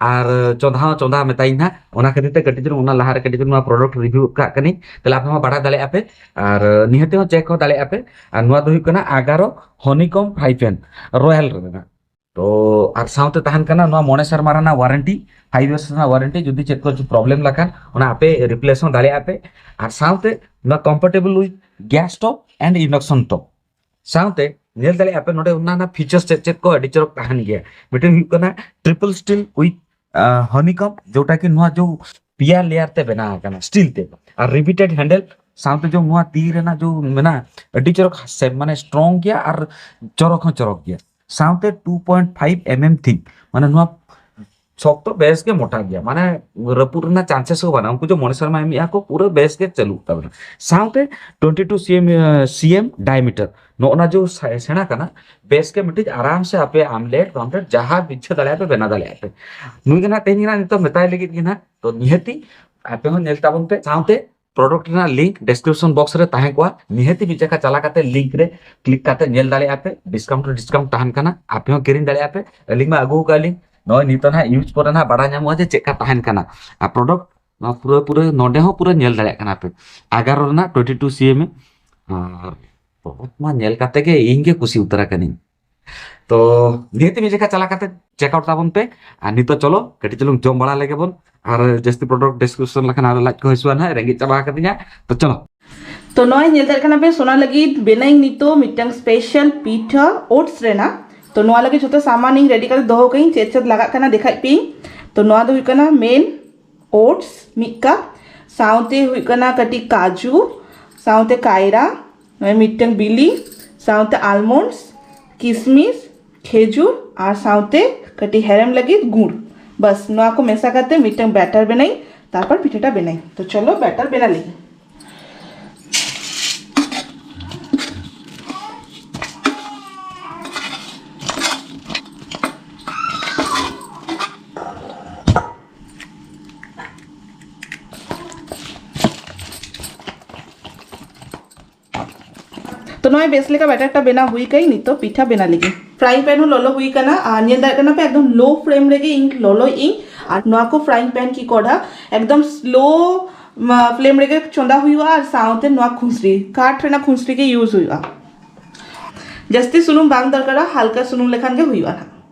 ᱟᱨ ᱪᱚᱸᱫᱟ ᱦᱚᱸ ᱪᱚᱸᱫᱟ ᱢᱮᱛᱟᱭᱤᱧ ᱦᱟᱸᱜ ᱚᱱᱟ ᱠᱷᱟᱹᱛᱤᱨ ᱛᱮ ᱠᱟᱹᱴᱤᱡ ᱪᱩᱞᱩᱝ ᱚᱱᱟ ᱞᱟᱦᱟ ᱨᱮ ᱠᱟᱹᱴᱤᱡ ᱪᱩᱞᱩᱝ ᱱᱚᱣᱟ ᱯᱨᱚᱰᱟᱠᱴ ᱨᱤᱵᱷᱤᱭᱩ ᱠᱟᱜ ᱠᱟᱹᱱᱟᱹᱧ ᱛᱟᱦᱞᱮ ᱟᱯᱮ ᱦᱚᱸ ᱵᱟᱲᱟᱭ ᱫᱟᱲᱮᱭᱟᱜᱼᱟ ᱯᱮ ᱟᱨ ᱱᱤᱦᱟᱹᱛ ᱦᱚᱸ ᱪᱮᱠ ᱦᱚᱸ ᱫᱟᱲᱮᱭᱟᱜᱼᱟ ᱯᱮ ᱟᱨ ᱱᱚᱣᱟ ᱫᱚ ᱦᱩᱭᱩᱜ ᱠᱟᱱᱟ ᱟᱜᱟᱨᱚ ᱦᱚᱱᱤᱠᱚᱢ ᱯᱷᱟᱭᱯᱮᱱ ᱨᱚᱭᱟᱞ ᱨᱮᱱᱟᱜ ᱛᱚ ᱟᱨ ᱥᱟᱶᱛᱮ ᱛᱟᱦᱮᱱ ᱠᱟᱱᱟ ᱱᱚᱣᱟ ᱢᱚᱬᱮ ᱥᱮᱨᱢᱟ ᱨᱮᱱᱟᱜ ᱣᱟᱨᱮᱱᱴᱤ ᱯᱷᱟᱭᱤᱵᱷ ᱤᱭᱟᱨᱥ ᱨᱮᱱᱟᱜ ᱣᱟᱨᱮᱱᱴᱤ ᱡᱩᱫᱤ ᱪᱮᱫ ᱠᱚ ᱯᱨᱚᱵᱞᱮᱢ ᱞᱮᱠᱷᱟᱱ ᱚᱱᱟ ᱟᱯᱮ ᱨᱤᱯᱞᱮᱥ ᱦᱚᱸ ᱫᱟᱲᱮᱭᱟᱜᱼᱟ ᱯᱮ ᱟᱨ ᱥᱟᱶᱛᱮ ᱱᱚᱣᱟ compatible with gas top and induction top ᱥᱟᱶᱛᱮ ᱧᱮᱞ ᱫᱟᱲᱮᱭᱟᱜᱼᱟ ᱯᱮ ᱱᱚᱰᱮ ᱚᱱᱟ ᱨᱮᱱᱟᱜ ᱯᱷᱤᱪᱟᱨᱥ ᱪᱮᱫ ᱪᱮᱫ ᱠᱚ ᱟᱹᱰᱤ ᱪᱚᱨᱚᱠ ᱛᱟᱦᱮᱱ ᱜᱮᱭᱟ ᱢᱤᱫᱴᱮᱱ ᱦᱩᱭᱩᱜ ᱠᱟᱱᱟ ᱴᱨᱤᱯᱞ ᱥᱴᱤᱞ ᱩᱭᱤᱛᱷ ᱦᱚᱱᱤᱠᱚᱢ ᱡᱮᱴᱟ ᱠᱤ ᱱᱚᱣᱟ ᱡᱚ ᱯᱮᱭᱟ ᱞᱮᱭᱟᱨ ᱛᱮ ᱵᱮᱱᱟᱣ ᱟᱠᱟᱱᱟ ᱥᱴᱤᱞ ᱛᱮ ᱟᱨ ᱨᱤᱵᱤᱴᱮᱰ ᱦᱮᱱᱰᱮᱞ ᱥᱟᱶᱛᱮ ᱡᱚ ᱱᱚᱣᱟ ᱛᱤ ᱨᱮᱱᱟᱜ ᱡᱚ ᱢᱮᱱᱟᱜᱼᱟ ᱟᱹᱰᱤ ᱪᱚᱨᱚᱠ ᱢᱟᱱᱮ ᱥᱴᱨᱚᱝ ᱜᱮᱭᱟ ᱟᱨ ᱪᱚᱨᱚᱠ ᱦᱚᱸ ᱪᱚᱨᱚᱠ ᱜᱮᱭᱟ ᱥᱟᱶᱛᱮ 2.5 mm ᱛᱷᱤᱠ ᱢᱟᱱᱮ ᱱᱚᱣᱟ ᱥᱚᱠᱛᱚ ᱵᱮᱥ ᱜᱮ ᱢᱚᱴᱟ ᱜᱮᱭᱟ ᱢᱟᱱᱮ ᱨᱟᱹᱯᱩᱫ ᱨᱮᱱᱟᱜ ᱪᱟᱱᱥᱮᱥ ᱦᱚᱸ ᱵᱟᱹᱱᱩᱜᱼᱟ ᱩᱱᱠᱩ ᱡᱮ ᱢᱚᱬᱮ ᱥᱮᱨᱢᱟ ᱮᱢᱮᱜᱼᱟ ᱠᱚ ᱯᱩᱨᱟᱹ ᱵᱮᱥ ᱜᱮ ᱪᱟᱹᱞᱩᱜ ᱛᱟᱵᱮᱱᱟ ᱥᱟᱶᱛᱮ 22 ᱥᱤᱮᱢ ᱥᱤᱮᱢ ᱰᱟᱭᱢᱤᱴᱟᱨ ᱱᱚᱜᱼᱚᱱᱟ ᱡᱮ ᱥᱮᱬᱟ ᱠᱟᱱᱟ ᱵᱮᱥ ᱜᱮ ᱢᱤᱫᱴᱤᱡ ᱟᱨᱟᱢ ᱥᱮ ᱟᱯᱮ ᱟᱢᱞᱮᱴ ᱯᱟᱢᱞᱮᱴ ᱡᱟᱦᱟᱸ ᱤᱪᱪᱷᱟᱹ ᱫᱟᱲᱮᱭᱟᱜ ᱯᱮ ᱵᱮᱱᱟᱣ ᱫᱟᱲᱮᱭᱟᱜ ᱯᱮ ᱱᱩᱭ ᱜᱮ ᱱᱟᱜ ᱛᱮᱦᱮᱧ ᱜᱮ ᱱᱟᱜ ᱱᱤᱛᱚᱜ ᱢᱮᱛᱟᱭ ᱞᱟᱹᱜᱤᱫ ᱜᱮ ᱱᱟᱜ ᱛᱚ ᱱᱤᱦᱟᱹᱛᱤ ᱟᱯᱮ ᱦᱚᱸ ᱧᱮᱞ ᱛᱟᱵᱚᱱ ᱯᱮ ᱥᱟᱶᱛᱮ ᱯᱨᱚᱰᱚᱠᱴ ᱨᱮᱱᱟᱜ ᱞᱤᱝᱠ ᱰᱮᱥᱠᱨᱤᱯᱥᱚᱱ ᱵᱚᱠᱥ ᱨᱮ ᱛᱟᱦᱮᱸ ᱠᱚᱜᱼᱟ ᱱᱤᱦᱟᱹᱛᱤ ᱢᱤᱫ ᱡᱟᱭᱜᱟ ᱪᱟᱞᱟᱣ ᱠᱟᱛᱮ ᱞᱤᱝᱠ ᱨᱮ ᱠᱞᱤᱠ ᱠᱟᱛᱮ ᱧᱮᱞ ᱫᱟᱲᱮᱭᱟᱜᱼᱟ ᱯᱮ ᱰᱤᱥᱠᱟᱣᱩᱱᱴ ᱨᱮ ᱰᱤᱥᱠᱟᱣᱩᱱᱴ ᱛᱟᱦᱮᱱ ᱠᱟᱱᱟ ᱟᱯᱮ ᱦᱚᱸ ᱠᱤᱨᱤᱧ ᱫᱟᱲᱮᱭᱟᱜᱼᱟ ᱯᱮ ᱟᱹᱞᱤᱧ ᱢᱟ ᱟᱹᱜᱩ ᱟᱠᱟᱫ ᱞᱤᱧ ᱱᱚᱜᱼᱚᱭ ᱱᱤᱛᱚᱜ ᱱᱟᱦᱟᱜ ᱤᱭᱩᱡᱽ ᱯᱚᱨᱮ ᱱᱟᱦᱟᱜ ᱵᱟᱰᱟᱭ ᱧᱟᱢᱚᱜᱼᱟ ᱡᱮ ᱪᱮᱫ ᱞᱮᱠᱟ ᱛᱟᱦᱮᱱ ᱠᱟᱱᱟ ᱟᱨ ᱯᱨᱚᱰᱚᱠᱴ ᱱᱚᱣᱟ ᱯᱩᱨᱟᱹ ᱯᱩᱨᱟᱹ ᱱᱚᱰᱮ ᱦᱚᱸ ᱯᱩᱨᱟᱹ ᱧᱮᱞ ᱫᱟᱲᱮᱭᱟᱜ ᱠᱟᱱᱟ ᱯᱮ ᱮᱜᱟᱨᱚ ᱨᱮᱱᱟᱜ ᱴᱩᱭᱮᱱᱴᱤ ᱴᱩ ᱥᱤ ᱮᱢ ᱮ ᱟᱨ ᱯᱨᱚᱰᱚᱠᱴ ᱢᱟ ᱧᱮᱞ ᱠᱟᱛᱮ ᱜᱮ ᱤᱧ ᱜᱮ ᱠᱩᱥᱤ ᱩᱛᱟᱹᱨ ᱟᱠᱟᱱᱟᱹᱧ ᱛᱚ ᱱᱤᱦᱟᱹᱛ ᱢᱤᱫ ᱡᱮᱠᱷᱟ ᱪᱟᱞᱟᱣ ᱠᱟᱛᱮ ᱪᱮᱠ ᱟᱣᱩᱴ ᱛᱟᱵᱚᱱ ᱯᱮ ᱟᱨ ᱱᱤᱛᱚᱜ ᱪᱚᱞᱚ ᱠᱟᱹᱴᱤᱡ ᱪᱩᱞᱩᱝ ᱡᱚᱢ ᱵᱟᱲᱟ ᱞᱮᱜᱮ ᱵᱚᱱ ᱟᱨ ᱡᱟᱹᱥᱛᱤ ᱯᱨᱚᱰᱟᱠᱴ ᱰᱤᱥᱠᱨᱤᱯᱥᱚᱱ ᱞᱮᱠᱷᱟᱱ ᱟᱨ ᱞᱟᱡ ᱠᱚ ᱦᱟᱹᱥᱩᱣᱟ ᱱᱟᱦᱟᱜ ᱨᱮᱸᱜᱮᱡ ᱪᱟᱵᱟ ᱟᱠᱟᱫᱤᱧᱟ ᱛᱚ ᱪᱚᱞᱚ ᱛᱚ ᱱᱚᱜᱼᱚᱭ ᱧᱮᱞ ᱫᱟᱲᱮᱭᱟᱜ ᱠᱟᱱᱟ ᱯᱮ ᱥᱚᱱᱟ ᱞᱟᱹᱜᱤᱫ ᱵᱮᱱᱟᱣᱤᱧ ᱱᱤᱛᱚᱜ ᱢᱤᱫᱴᱟᱝ ᱥᱯᱮᱥᱟᱞ ᱯᱤᱴᱷᱟᱹ ᱳᱴᱥ ᱨᱮᱱᱟᱜ ᱛᱚ ᱱᱚᱣᱟ ᱞᱟᱹᱜᱤᱫ ᱡᱷᱚᱛᱚ ᱥᱟᱢᱟᱱ ᱤᱧ ᱨᱮᱰᱤ ᱠᱟᱛᱮ ᱫᱚᱦᱚ ᱠᱟᱹᱧ ᱪᱮᱫ ᱪᱮᱫ ᱞᱟᱜᱟᱜ ᱠᱟᱱᱟ ᱫᱮᱠᱷᱟᱡ ᱯᱮ ᱛᱚ ᱱᱚᱣᱟ ᱫᱚ ᱦᱩᱭᱩᱜ ᱠᱟᱱᱟ ᱢᱮᱱ ᱳᱴᱥ ᱢᱤᱫ ᱠᱟᱯ ᱥᱟᱶᱛᱮ ᱦᱩᱭᱩᱜ ᱠᱟᱱᱟ ᱠᱟᱹᱴᱤᱡ ᱠᱟᱡᱩ ᱥᱟᱶᱛᱮ ᱠᱟᱭᱨᱟ ᱱᱚᱜᱼᱚᱭ ᱢᱤᱫᱴᱟᱝ ᱵᱤᱞᱤ ᱥᱟᱶᱛᱮ ᱟᱞᱢᱚᱱᱰᱥ ᱠᱤᱥᱢᱤᱥ ᱠᱷᱮᱡᱩᱨ ᱟᱨ ᱥᱟᱶᱛᱮ ᱠᱟᱹᱴᱤᱡ ᱦᱮᱨᱮᱢ ᱞᱟᱹᱜᱤᱫ ᱜᱩᱲ ᱵᱟᱥ ᱱᱚᱣᱟ ᱠᱚ ᱢᱮᱥᱟ ᱠᱟᱛᱮ ᱢᱤᱫᱴᱟᱝ ᱵᱮᱴᱟᱨ ᱵᱮᱱᱟᱭ ᱛᱟᱨᱯᱚᱨ ᱯᱤᱴᱷᱟᱹᱴᱟ ᱵᱮᱱᱟᱭ ᱛᱚ ᱪᱚᱞᱚ ᱵᱮᱴᱟᱨ ᱵᱮᱱᱟ ᱞᱟᱹᱜᱤᱫ ᱛᱚ ᱱᱚᱜᱼᱚᱭ ᱵᱮᱥ ᱞᱮᱠᱟ ᱵᱮᱴᱟᱨᱴᱟ ᱵᱮᱱᱟᱣ ᱦᱩᱭ ᱠᱟᱹᱧ ᱱᱤᱛᱚᱜ ᱯᱤᱴᱷᱟ ᱵᱮᱱᱟᱣ ᱞᱟᱹᱜᱤᱫ ᱯᱷᱨᱟᱭᱤᱝ ᱯᱮᱱ ᱦᱚᱸ ᱞᱚᱞᱚ ᱦᱩᱭ ᱠᱟᱱᱟ ᱟᱨ ᱧᱮᱞ ᱫᱟᱲᱮᱭᱟᱜ ᱠᱟᱱᱟ ᱯᱮ ᱮᱠᱫᱚᱢ ᱞᱳ ᱯᱷᱨᱮᱢ ᱨᱮᱜᱮ ᱤᱧ ᱞᱚᱞᱚᱭ ᱤᱧ ᱟᱨ ᱱᱚᱣᱟ ᱠᱚ ᱯᱷᱨᱟᱭᱤᱝ ᱯᱮᱱ ᱠᱤ ᱠᱚᱰᱷᱟ ᱮᱠᱫᱚᱢ ᱥᱞᱳ ᱯᱷᱞᱮᱢ ᱨᱮᱜᱮ ᱪᱚᱸᱫᱟ ᱦᱩᱭᱩᱜᱼᱟ ᱟᱨ ᱥᱟᱶᱛᱮ ᱱᱚᱣᱟ ᱠᱷᱩᱥᱨᱤ ᱠᱟᱴ ᱨᱮᱱᱟᱜ ᱠᱷᱩᱥᱨᱤ ᱜᱮ ᱤᱭᱩᱡᱽ ᱦᱩᱭᱩᱜᱼᱟ ᱡᱟᱹᱥᱛᱤ ᱥᱩᱱᱩᱢ ᱵᱟᱝ ᱫᱚᱨᱠᱟᱨᱟ ᱦᱟᱞᱠᱟ ᱥᱩᱱᱩᱢ ᱞᱮᱠᱷᱟᱱ ᱜᱮ ᱦᱩᱭᱩᱜᱼᱟ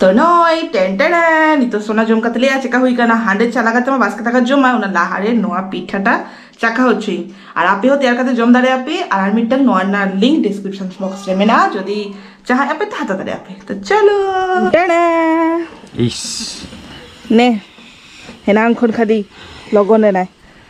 ᱛᱚ ᱱᱚᱭ ᱴᱮᱱ ᱴᱮᱱ ᱱᱤᱛᱚᱜ ᱥᱚᱱᱟ ᱡᱚᱢ ᱠᱟᱛᱮ ᱞᱮᱭᱟ ᱪᱮᱠᱟ ᱦᱩᱭ ᱠᱟᱱᱟ ᱦᱟᱸᱰᱮ ᱪᱟᱞᱟ ᱠᱟᱛᱮ ᱢᱟ ᱵᱟᱥᱠᱮ ᱫᱟᱠᱟ ᱡᱚᱢᱟ ᱚᱱᱟ ᱞᱟᱦᱟ ᱨᱮ ᱱᱚᱣᱟ ᱯᱤᱴᱷᱟᱴᱟ ᱪᱟᱠᱷᱟ ᱦᱚᱪᱚᱭ ᱟᱨ ᱟᱯᱮ ᱦᱚᱸ ᱛᱮᱭᱟᱨ ᱠᱟᱛᱮ ᱡᱚᱢ ᱫᱟᱲᱮ ᱟᱯᱮ ᱟᱨ ᱟᱨ ᱢᱤᱫᱴᱟᱝ ᱱᱚᱣᱟ ᱨᱮᱱᱟᱜ ᱞᱤᱝᱠ ᱰᱤᱥᱠᱨᱤᱯᱥᱚᱱ ᱵᱚᱠᱥ ᱨᱮ ᱢᱮᱱᱟᱜᱼᱟ ᱡᱩᱫᱤ ᱪᱟᱦᱟᱭ ᱟᱯᱮ ᱛᱚ ᱦᱟᱛᱟᱣ ᱫᱟᱲᱮ ᱟᱯᱮ ᱛᱚ ᱪᱚᱞᱚ ᱴᱮᱱᱟ ᱤᱥ ᱱᱮ ᱦᱮᱱᱟᱝ ᱠᱷᱚᱱ ᱠᱷᱟᱹᱞᱤ ᱞᱚᱜᱚᱱ ᱮᱱᱟᱭ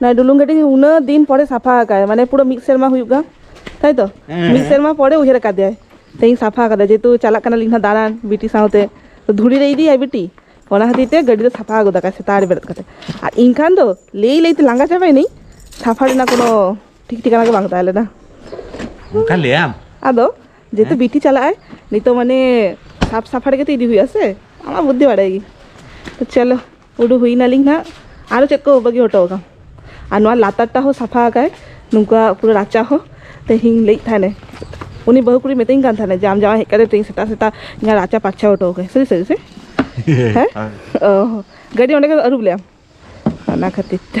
ᱱᱚᱣᱟ ᱰᱩᱞᱩᱝ ᱜᱟᱹᱰᱤ ᱩᱱᱟᱹᱜ ᱫᱤᱱ ᱯᱚᱨᱮ ᱥᱟᱯᱷᱟ ᱟᱠᱟᱫᱟᱭ ᱢᱟᱱᱮ ᱯᱩᱨᱟᱹ ᱢᱤᱫ ᱥᱮᱨᱢᱟ ᱦᱩᱭᱩᱜ ᱠᱟᱱ ᱛᱟᱭ ᱛᱚ ᱢᱤᱫ ᱥᱮᱨᱢᱟ ᱯᱚᱨᱮ ᱩᱭᱦᱟᱹᱨ ᱟᱠᱟᱫᱮᱭᱟᱭ ᱛᱮᱦᱮᱧ ᱥᱟᱯᱷᱟ ᱟᱠᱟᱫᱟᱭ ᱡᱮᱦᱮᱛᱩ ᱪᱟᱞᱟᱜ ᱠᱟᱱᱟᱞᱤᱧ ᱱᱟᱦᱟᱜ ᱫᱟᱬᱟᱱ ᱵᱤᱴᱤ ᱥᱟᱶᱛᱮ ᱫᱷᱩᱲᱤ ᱨᱮ ᱤᱫᱤᱭᱟᱭ ᱵᱤᱴᱤ ᱚᱱᱟ ᱠᱷᱟᱹᱛᱤᱨ ᱛᱮ ᱜᱟᱹᱰᱤ ᱫᱚ ᱥᱟᱯᱷᱟ ᱜᱚᱫ ᱟᱠᱟᱫᱟᱭ ᱥᱮᱛᱟᱜ ᱨᱮ ᱵᱮᱨᱮᱫ ᱠᱟᱛᱮ ᱟᱨ ᱤᱧ ᱠᱷᱟᱱ ᱫᱚ ᱞᱟᱹᱭ ᱞᱟᱹᱭᱛᱮ ᱞᱟᱸᱜᱟ ᱪᱟᱵᱟᱭᱮᱱᱟᱹᱧ ᱥᱟᱯᱷᱟ ᱨᱮᱱᱟᱜ ᱠᱳᱱᱳ ᱴᱷᱤᱠ ᱴᱷᱤᱠᱟᱱᱟ ᱜᱮ ᱵᱟᱝ ᱛᱟᱦᱮᱸ ᱞᱮᱱᱟ ᱚᱱᱠᱟ ᱞᱟᱹᱭᱟᱢ ᱟᱫᱚ ᱡᱮᱦᱮᱛᱩ ᱵᱤᱴᱤ ᱪᱟᱞᱟᱜᱼᱟᱭ ᱱᱤᱛᱚᱜ ᱢᱟᱱᱮ ᱥᱟᱯ ᱥᱟᱯᱷᱟ ᱨᱮᱜᱮ ᱛᱚ ᱤᱫᱤ ᱦᱩᱭᱩᱜᱼᱟ ᱥᱮ ᱟᱢᱟᱜ ᱵᱩᱫᱽᱫᱷᱤ ᱵᱟᱲᱟᱭ ᱜᱮ ᱪᱚᱞᱚ ᱩᱰᱩᱠ ᱦᱩᱭ ᱱᱟᱞᱤᱧ ᱱᱟᱜ ᱟᱨᱚ ᱪᱮᱫ ᱠᱚ ᱵᱟᱹᱜᱤ ᱦᱚᱴᱚ ᱟᱠᱟᱫ ᱟᱨ ᱱᱚᱣᱟ ᱞᱟᱛᱟᱨᱴᱟ ᱦᱚᱸ ᱥᱟᱯᱷᱟ ᱟᱠᱟᱫ ᱱᱚᱝᱠᱟ ᱯᱩᱨᱟᱹ ᱨᱟᱪᱟ ᱦᱚᱸ ᱛᱮᱦᱮᱧ ᱞᱟᱹᱭᱮᱫ ᱛᱟᱦᱮᱱᱮ ᱩᱱᱤ ᱵᱟᱹᱦᱩ ᱠᱩᱲᱤ ᱢᱤᱛᱟᱹᱧ ᱠᱟᱱ ᱛᱟᱦᱮᱱᱮ ᱡᱟᱢ ᱡᱟᱶᱟᱭ ᱦᱮᱡ ᱠᱟᱛᱮ ᱛᱮᱦᱮᱧ ᱥᱮᱛᱟᱜ ᱥᱮᱛᱟᱜ ᱤᱧᱟᱹᱜ ᱨᱟᱪᱟ ᱯᱟᱨᱪᱷᱟ ᱦᱚᱴᱚ ᱟᱠᱟᱫ ᱥᱟᱹᱨᱤ ᱥᱟᱹᱨᱤ ᱥᱮ ᱦᱮᱸ ᱚ ᱜᱟᱹᱰᱤ ᱚᱸᱰᱮ ᱜᱮ ᱟᱹᱨᱩᱵ ᱞᱮᱭᱟᱢ ᱚᱱᱟ ᱠᱷᱟᱹᱛᱤᱨ ᱛᱮ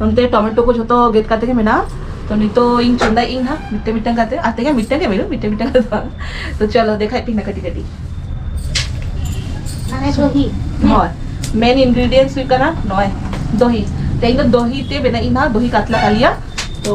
ᱱᱚᱱᱛᱮ ᱴᱚᱢᱮᱴᱳ ᱠᱚ ᱡᱷᱚᱛᱚ ᱜᱮᱫ ᱠᱟᱛᱮ ᱜᱮ ᱢᱮᱱᱟᱜᱼᱟ ᱛᱚ ᱱᱤᱛᱚᱜ ᱤᱧ ᱪᱚᱸᱫᱟᱭ ᱤᱧ ᱦᱟᱸᱜ ᱢᱤᱫᱴᱮᱱ ᱢᱤᱫᱴᱮᱱ ᱠᱟᱛᱮ ᱟᱨ ᱛᱮᱜᱮ ᱢᱤᱫᱴᱮᱱ ᱜᱮ ᱢᱮᱨᱩ ᱢᱤᱫᱴᱮᱱ ᱢᱤᱫᱴᱮᱱ ᱠᱟᱛᱮ ᱵᱟᱝ ᱛᱚ ᱪᱚᱞᱚ ᱫᱮᱠᱷᱟᱭ ᱯᱤᱧ ᱠᱟᱹᱴᱤᱡ ᱠᱟᱹᱴᱤᱡ ᱢᱟᱱᱮ ᱫᱚᱦᱤ ᱦᱳᱭ ᱢᱮᱱ ᱤᱱᱜᱨᱮᱰᱤᱭᱮᱱᱴᱥ ᱦᱩᱭᱩᱜ ᱠᱟᱱᱟ ᱱᱚᱜᱼᱚᱭ ᱫᱚᱦᱤ ᱛᱮᱦᱮᱧ ᱫᱚ ᱫᱚᱦᱤ ᱛᱮ ᱵᱮᱱᱟᱜ ᱤᱧ ᱦᱟᱸᱜ ᱫᱚᱦᱤ ᱠᱟᱛᱞᱟ ᱠᱟᱞᱤᱭᱟ ᱛᱚ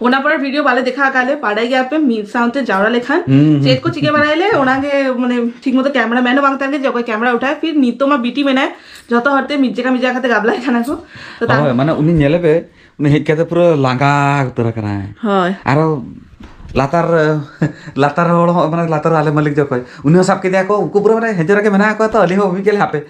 ᱚᱱᱟ ᱯᱚᱨᱮ ᱵᱷᱤᱰᱤᱭᱳ ᱵᱟᱞᱮ ᱫᱮᱠᱷᱟᱣ ᱟᱠᱟᱫ ᱞᱮ ᱵᱟᱰᱟᱭ ᱜᱮᱭᱟ ᱯᱮ ᱢᱤᱫ ᱥᱟᱶᱛᱮ ᱡᱟᱣᱨᱟ ᱞᱮᱠᱷᱟᱱ ᱪᱮᱫ ᱠᱚ ᱪᱤᱠᱟᱹ ᱵᱟᱲᱟᱭ ᱞᱮ ᱚᱱᱟ ᱜᱮ ᱢᱟᱱᱮ ᱴᱷᱤᱠ ᱢᱚᱛᱚ ᱠᱮᱢᱮᱨᱟ ᱢᱮᱱ ᱦᱚᱸ ᱵᱟᱝ ᱛᱟᱦᱮᱱ ᱜᱮ ᱡᱮ ᱚᱠᱚᱭ ᱠᱮᱢᱮᱨᱟ ᱩᱴᱷᱟᱭ ᱯᱷᱤᱨ ᱱᱤᱛᱚᱜ ᱢᱟ ᱵᱤᱴᱤ ᱢᱮᱱᱟᱭ ᱡᱚᱛᱚ ᱦᱚᱲ ᱛᱮ ᱢᱤᱫ ᱡᱟᱭᱜᱟ ᱢᱤᱫ ᱡᱟᱭᱜᱟ ᱠᱟᱛᱮ ᱜᱟᱵᱞᱟᱭ ᱠᱟᱱᱟ ᱠᱚ ᱛᱚ ᱛᱟᱨ ᱦᱳᱭ ᱢᱟᱱᱮ ᱩᱱᱤ ᱧᱮᱞᱮ ᱯᱮ ᱩᱱᱤ ᱦᱮᱡ ᱠᱟᱛᱮ ᱯᱩᱨᱟᱹ ᱞᱟᱸᱜᱟ ᱩᱛᱟᱹᱨ ᱟᱠᱟᱱᱟᱭ ᱦᱳᱭ ᱟᱨᱚ ᱞᱟᱛᱟᱨ ᱞᱟᱛᱟᱨ ᱦᱚᱲ ᱦᱚᱸ ᱢᱟᱱᱮ ᱞᱟᱛᱟᱨ ᱟᱞᱮ ᱢᱟᱹᱞᱤᱠ ᱫᱚ ᱚᱠᱚᱭ ᱩᱱᱤ ᱦᱚᱸ ᱥᱟᱵ ᱠᱮᱫᱮᱭᱟ ᱠᱚ ᱩᱱᱠᱩ ᱯᱩᱨᱟᱹ ᱢᱟᱱᱮ ᱦᱮᱡᱮᱨ ᱨᱮᱜᱮ ᱢᱮᱱᱟᱜ ᱠᱚᱣᱟ ᱛᱚ ᱟᱹᱞᱤᱧ ᱦᱚᱸ ᱵᱟᱹᱵᱤᱱ ᱧᱮᱞ ᱦᱟᱯᱮ